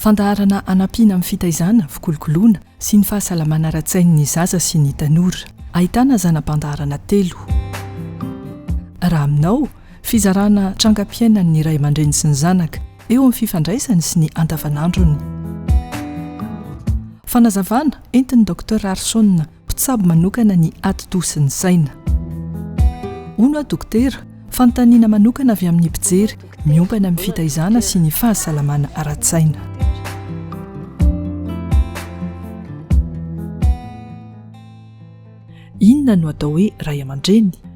Fandaharana hanampiana amin'ny fitaizana, fikolokoloana sy ny fahasalamana ara-tsain'ny zaza sy ny tanora. Ahitana zana-pandaharana telo. Raha aminao, fizarana trangam-piainan'ny ray aman-dreny sy ny zanaka, eo amin'ny fifandraisany sy ny andavanandrony. Fanazavana entin'i Docteur Arson Mpitsabo manokana ny ati-doha sy ny saina. Hono aho dokotera, fanontaniana manokana avy amin'ny mpijery miompana amin'ny fitaizana sy ny fahasalamana ara-tsaina. Inona no atao hoe ray aman-dreny?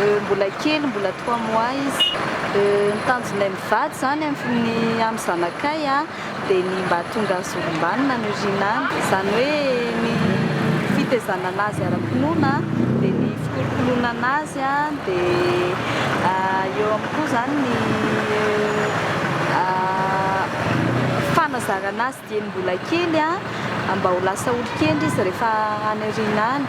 Euh, mbola kely, mbola trois mois izy. Euh, ny tanjonay mivady zany amin'ny amin'ny zanakay a, dia ny mba tonga zolombanona ny orinany. Izany hoe ny fitezanana azy ara-pinoana, dia ny fikolokoloanana azy a, dia ah, eo amin'ny koa zany ny ah, fanazarana azy. Dieny mbola kely a, mba ho lasa olon-kendry izy rehefa any aoriana any.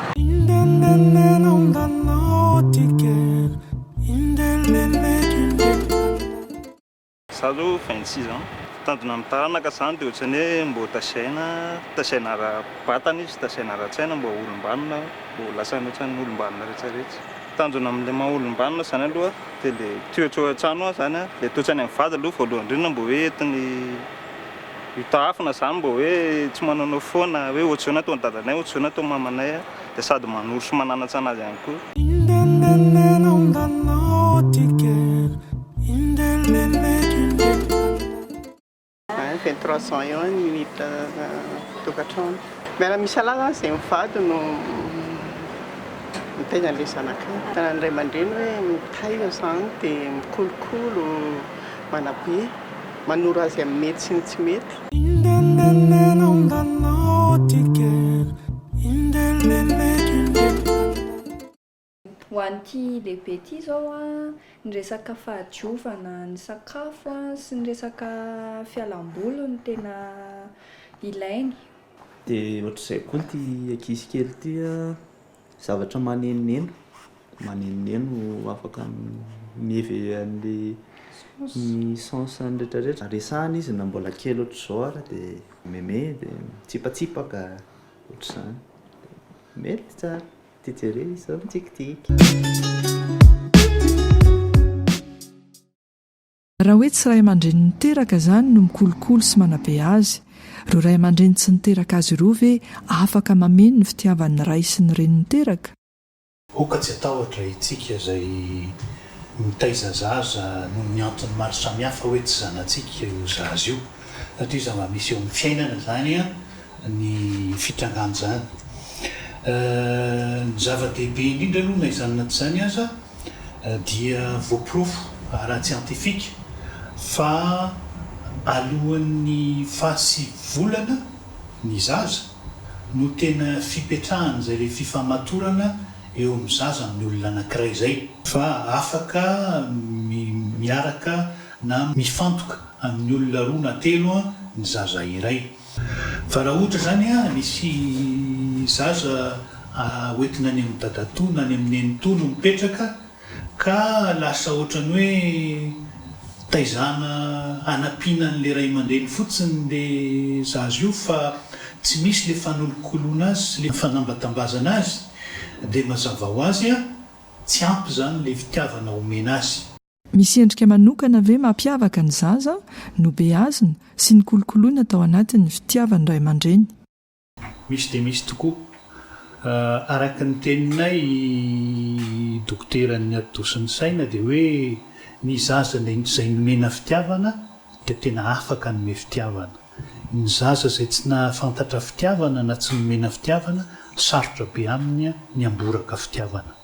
Za zao vingt six ans, tanjona am taranaka zany de otrany hoe mbô tasaina, tasaina ara batana izy, tasaina ara tsaina mbô olombanona, mbô ho lasa otrany olombanona retsy retsy. Tanjona am le maha olombanona zany aloha de le toetro an trano an zany an, le toetrany am vady aloha voalohany ndrindra mbô hoe entiny, Io tahafina zany mba hoe tsy manonofy foana hoe ohatr'izao na ataon'i dadanay, ohatr'izao na ataon'i mamanay dia sady manoro sy mananantsana azy ihany koa. Vingt trois ans eo ny unit tokantrano. Miala misalahy zany izay mivady no mitaiza an'ilay zanakay. Tanan'ny ray aman-dreny hoe mitaiza izany dia mikolokolo, manabe. manoro azy amin'ny mety sy ny tsy mety. Ho an'ity lehibe ity izao an, ny resaka fahadiovana ny sakafo an, sy ny resaka fialam-boly no tena ilainy. Dia ohatr'izay koa ity ankizy kely ity an. Zavatra manenoneno, manenoneno afaka miheve an'ilay ny sens an'ny retraretra. Resahana izy na mbola kely ohatr'izao ary dia meme dia mitsipatsipaka ohatr'izany. Mety tsara, ity jereo izy izao mitsikitsiky. Raha hoe tsy ray aman-dreny niteraka izany no mikolokolo sy manabe azy, ireo ray aman-dreny tsy niteraka azy ireo ve afaka mameno ny fitiavan'ny ray sy ny reny niteraka? Hoka tsy hatahotra itsika izay mitaiza zaza noho ny antony maro samihafa hoe tsy zanatsika io zaza io, satria zava-misy eo amin'ny fiainana izany. ny fitrangan'izany. Ny zava-dehibe indrindra aloha na izany na tsy izany aza dia voaporofo ara-tsiantifika fa alohan'ny faha sivy volana ny zaza no tena fipetrahan'izay ilay fifamatorana eo amin'ny zaza amin'ny olona anankiray izay, fa afaka miaraka na mifantoka amin'ny olona roa na telo ny zaza iray. Fa raha ohatra izany an, misy zaza hoentina any amin'ny dadatoa na any amin'ny nenitoa no mipetraka ka lasa ohatran'ny hoe taizana hanampiana an'ilay ray aman-dreny fotsiny ilay zaza io fa tsy misy ilay fanolokoloana azy sy ilay fanambatambazana azy dia mazava ho azy an, tsy ampy izany ilay fitiavana omena azy. Misy endrika manokana ve mampiavaka ny zaza nobeazina sy nikolokoloina tao anatin'ny fitiavan'ny ray aman-dreny? Misy dia misy tokoa. Araka ny teninay i dokoteran'ny atidoha sy ny saina dia hoe ny zaza izay nomena fitiavana dia tena afaka hanome fitiavana. Ny zaza izay tsy nahafantatra fitiavana na tsy nomena fitiavana, sarotra be aminy ny hamboraka fitiavana.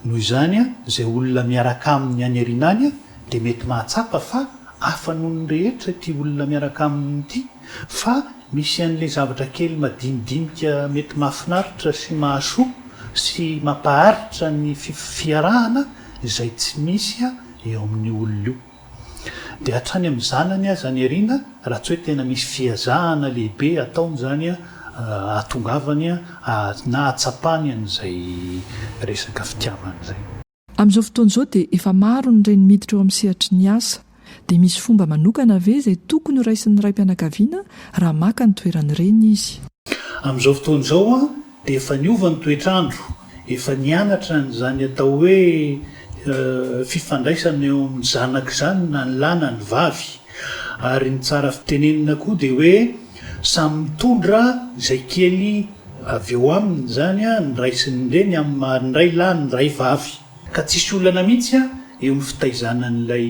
Noho izany, izay olona miaraka aminy any aoriana any dia mety mahatsapa fa hafa noho ny rehetra ity olona miaraka aminy ity, fa misy an'ilay zavatra kely madinidinika mety mahafinaritra sy mahasoa sy mampaharitra ny fiarahana izay tsy misy eo amin'io olona io. Dia hatrany amin'ny zanany aza any aoriana raha tsy hoe tena misy fiazahana lehibe ataony izany ahatongavany na ahatsapany an'izay resaka fitiavana izay. Amin'izao fotoana izao dia efa maro ny reny miditra eo amin'ny sehatry ny asa. Dia misy fomba manokana ve izay tokony ho raisin'ny raim-pianakaviana raha maka ny toeran'ny reny izy? Amin'izao fotoana izao dia efa niova ny toetr'andro Efa nianatra an'izany atao hoe fifandraisana eo amin'ny zanaka izany na ny lahy na ny vavy. Ary ny tsara fitenenina koa dia hoe samy mitondra izay kely avy eo aminy izany ny ray sy ny reny amin'ny maha ny ray lahy ny ray vavy. Ka tsisy olana mihitsy eo amin'ny fitaizana an'ilay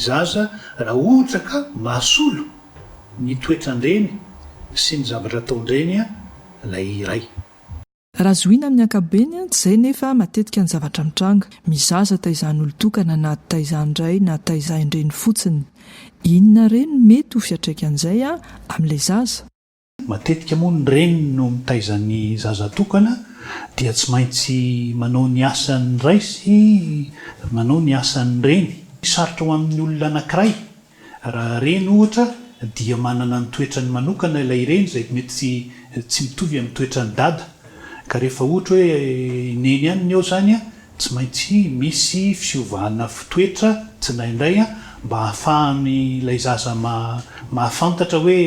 zaza raha ohatra ka mahasolo ny toetran-dreny sy ny zavatra ataon-dreny ilay iray. Raha zohiana amin'ny ankapobeny, tsy izay nefa matetika ny zavatra mitranga. Mizaza taizan'ny olon-tokana na taizan'ny ray na taizan'ny reny fotsiny. Inona re no mety ho fiatraikan'izay amin'ilay zaza? Matetika moa ny reny no mitaiza ny zaza tokana dia tsy maintsy manao ny asan'ny ray sy manao ny asan'ny reny. Sarotra ho amin'ny olona anankiray Raha reny ohatra dia manana ny toetrany manokana ilay reny izay mety tsy mitovy amin'ny toetran'ny dada ka rehefa ohatra hoe i neny ihany ny ao izany tsy maintsy misy fiovana toetra tsindraindray mba hahafahan'ilay zaza mahafantatra hoe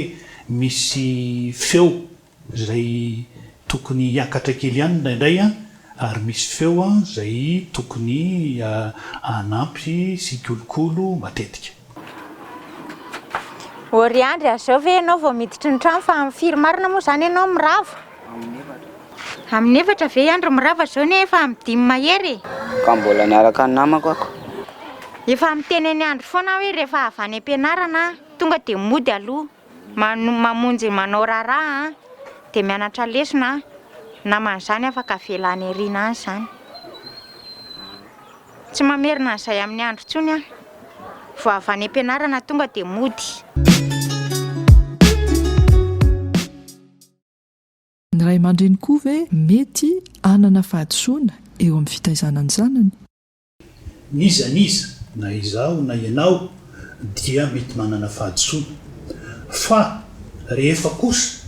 misy feo izay tokony hiakatra kely ihany indraindray ary misy feo izay tokony hanampy sy hikolokolo matetika. Ory Andry, azao ve ianao vao miditra ny trano fa firy marina moa izany ianao mirava? Amin'ny efatra. Amin'ny efatra ve i Andry mirava izao anie efa amin'ny dimy mahery e? Ka mbola niaraka ny namako ako. Efa miteny an'i Andry foana aho hoe rehefa avy any am-pianarana aho tonga dia mody aloha. Mano, mamonjy manao raharaha an, dia mianatra lesona an, namany zany afaka avela any arina any zany. Tsy mamerina an'izay amin'ny andro intsony aho. Vao avy any am-pianarana tonga dia mody. Ny ray aman-dreny koa ve mety hanana fahadisoana eo amin'ny fitaizana ny zanany? N'iza n'iza, na izaho na ianao, dia mety manana fahadisoana. Fa rehefa kosa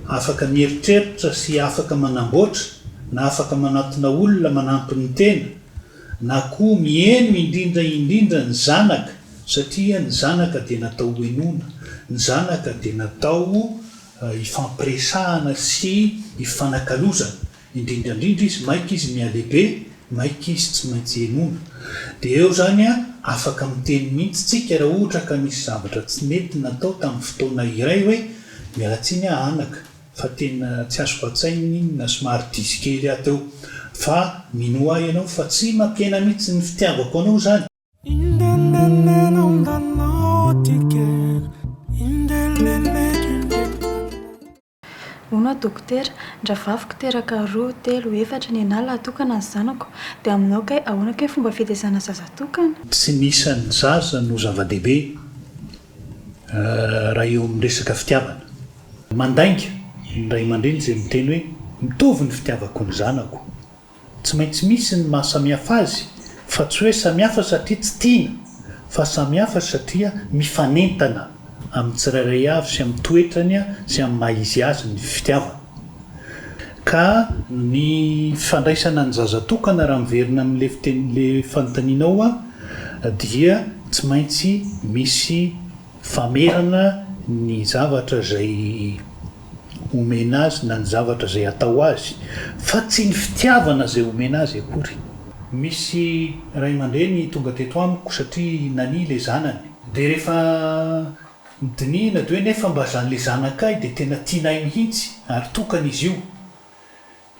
afaka mieritreritra sy afaka manamboatra na afaka manatona olona manampy ny tena, na koa miheno indrindra indrindra ny zanaka, satria ny zanaka dia natao hohenoina, ny zanaka dia natao hifampiresahana sy hifanakalozana, Indrindra indrindra izy maika izy mihalehibe, maika izy tsy maintsy henoina. Dia eo izany an, afaka miteny mihitsy tsika raha ohatra ka nisy zavatra tsy nety natao tamin'ny fotoana iray hoe, miala tsiny aho anaka, fa tena tsy azoko an-tsaina iny na somary diso kely aho teo, fa minoa ahy ianao fa tsy mampihena mihitsy ny fitiavako anao izany. Hono aho dokotera, ndravaviko teraka roa, telo, efatra, ny anah laha tokana ny zanako, dia aminao kay ahoana kay fomba fitezana zaza tokana? Tsy ny isan'ny zaza no zava-dehibe raha eo amin'ny resaka fitiavana. Mandainga ny ray aman-dreny izay miteny hoe mitovy ny fitiavako ny zanako. Tsy maintsy misy ny maha samihafa azy fa tsy hoe samihafa satria tsy tiana fa samihafa satria mifanentana amin'ny tsirairay avy sy amin'ny toetrany sy amin'ny maha izy azy ny fitiavana. Ka ny fandraisana ny zaza tokana raha miverina amin'ilay fiteny ilay fanontanianao dia tsy maintsy misy famerana ny zavatra izay omena azy na ny zavatra izay atao azy, fa tsy ny fitiavana izay omena azy akory. Misy ray aman-dreny tonga teto amiko satria nania ilay zanany. Dia rehefa dinihina dia hoe, nefa mba zan'ilay zanakay dia tena tianay mihitsy ary tokana izy io.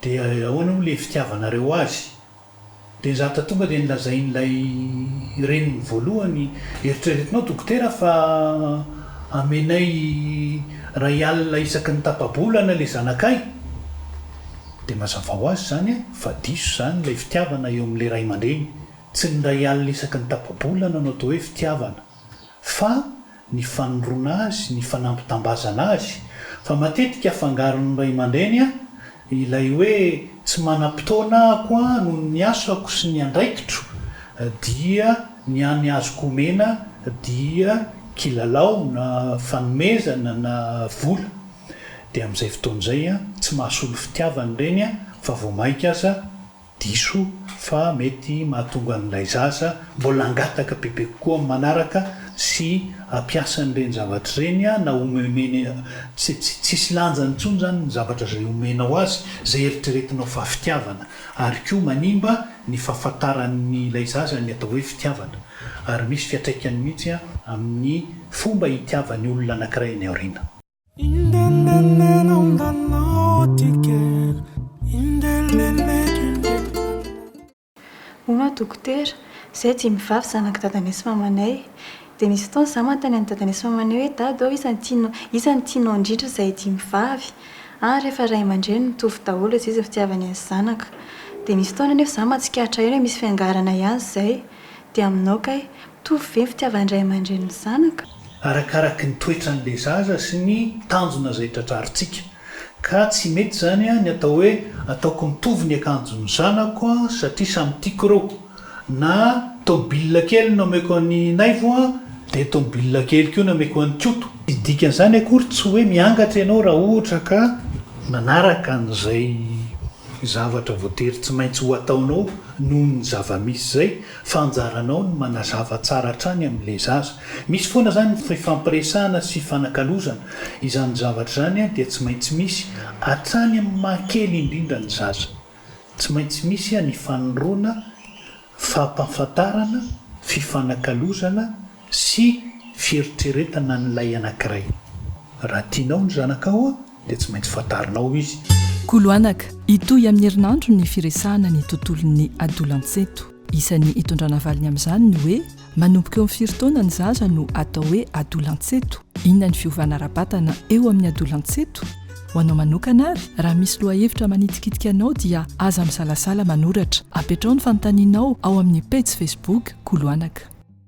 Dia ahoana moa ilay fitiavanareo azy? Dia izaho ta tonga dia nolazain'ilay reniny voalohany, eritreretinao dokotera fa amenay iray alina isaky ny tapa-bolana ilay zanakay? Dia mazava ho azy izany fa diso izany ilay fitiavana eo amin'ilay ray aman-dreny, tsy ny iray alina isaky ny tapa-bolana no atao hoe fitiavana. fa ny fanondroana azy, ny fanampitambazana azy, fa matetika afangaron'ny ray aman-dreny ilay hoe tsy manam-potoana aho noho ny asako sy ny andraikitro dia ny any azoko omena dia kilalao na fanomezana na vola dia amin'izay fotoana izay tsy mahasolo fitiavana ireny fa vao maika aza Diso fa mety mahatonga an'ilay zaza mbola hangataka bebe kokoa amin'ny manaraka sy hampiasa an'ireny zavatra ireny na homehomehy tsisy lanjany intsony izany ny zavatra izay homenao azy, izay eritreretinao fa fitiavana ary koa manimba ny fahafantaran'ilay zaza ny atao hoe fitiavana ary misy fiantraikany mihitsy amin'ny fomba hitiavany olona anankiray any aoriana. Hono aho dokotera, izahay dimy vavy zanak'i dadanay sy mamanay. Dia nisy fotoana izaho manontany an'i dadanay sy mamanay hoe, Dada ô, iza no tianao, iza no tianao indrindra izahay dimy vavy? Ary rehefa ray aman-dreny mitovy daholo dia tsy izy ny fitiavany ny zanaka. Dia nisy fotoana anefa izaho mahatsikaritra ihany hoe misy fiangarana ihany izay. Dia aminao kay? Mitovy ve ny fitiavan-dray aman-dreny ny zanaka? Arakaraky ny toetran'ilay zaza sy ny tanjona izay tratrarintsika. Ka tsy mety izany ny atao hoe ataoko mitovy ny akanjon'ny zanako satria samy tiako ireo. Na tomobilina kely no omeko an'i Naivo dia tomobilina kely koa no omeko an'i Koto. Ny dikan'izany akory tsy hoe miangatra ianao raha ohatra ka manaraka an'izay zavatra voatery tsy maintsy ho ataonao noho ny zava-misy izay. Fa anjaranao ny manazava tsara hatrany amin'ilay zaza. Misy foana izany ny fifampiresahana sy fanakalozana. Izany zavatra izany dia tsy maintsy misy, hatrany amin'ny maha kely indrindra ny zaza. Tsy maintsy misy ny fanoroana, fampahafantarana, fifanakalozana, sy fieritreretana an'ilay anankiray. Raha tianao ny zanakao dia tsy maintsy fantarinao izy. Kolo anaka, hitohy amin'ny herinandro ny firesahana ny tontolon'ny adolantsento. Isan'ny hitondrana valiny amin'izany ny hoe manomboka eo amin'ny firy taona ny zaza no atao hoe adolantsento? Inona ny fiovana ara-batana eo amin'ny adolantsento? Ho anao manokana ary, raha misy lohahevitra manitikitika anao dia aza misalasala manoratra. Apetraho ny fanontanianao ao amin'ny pejy Facebook Kolo anaka.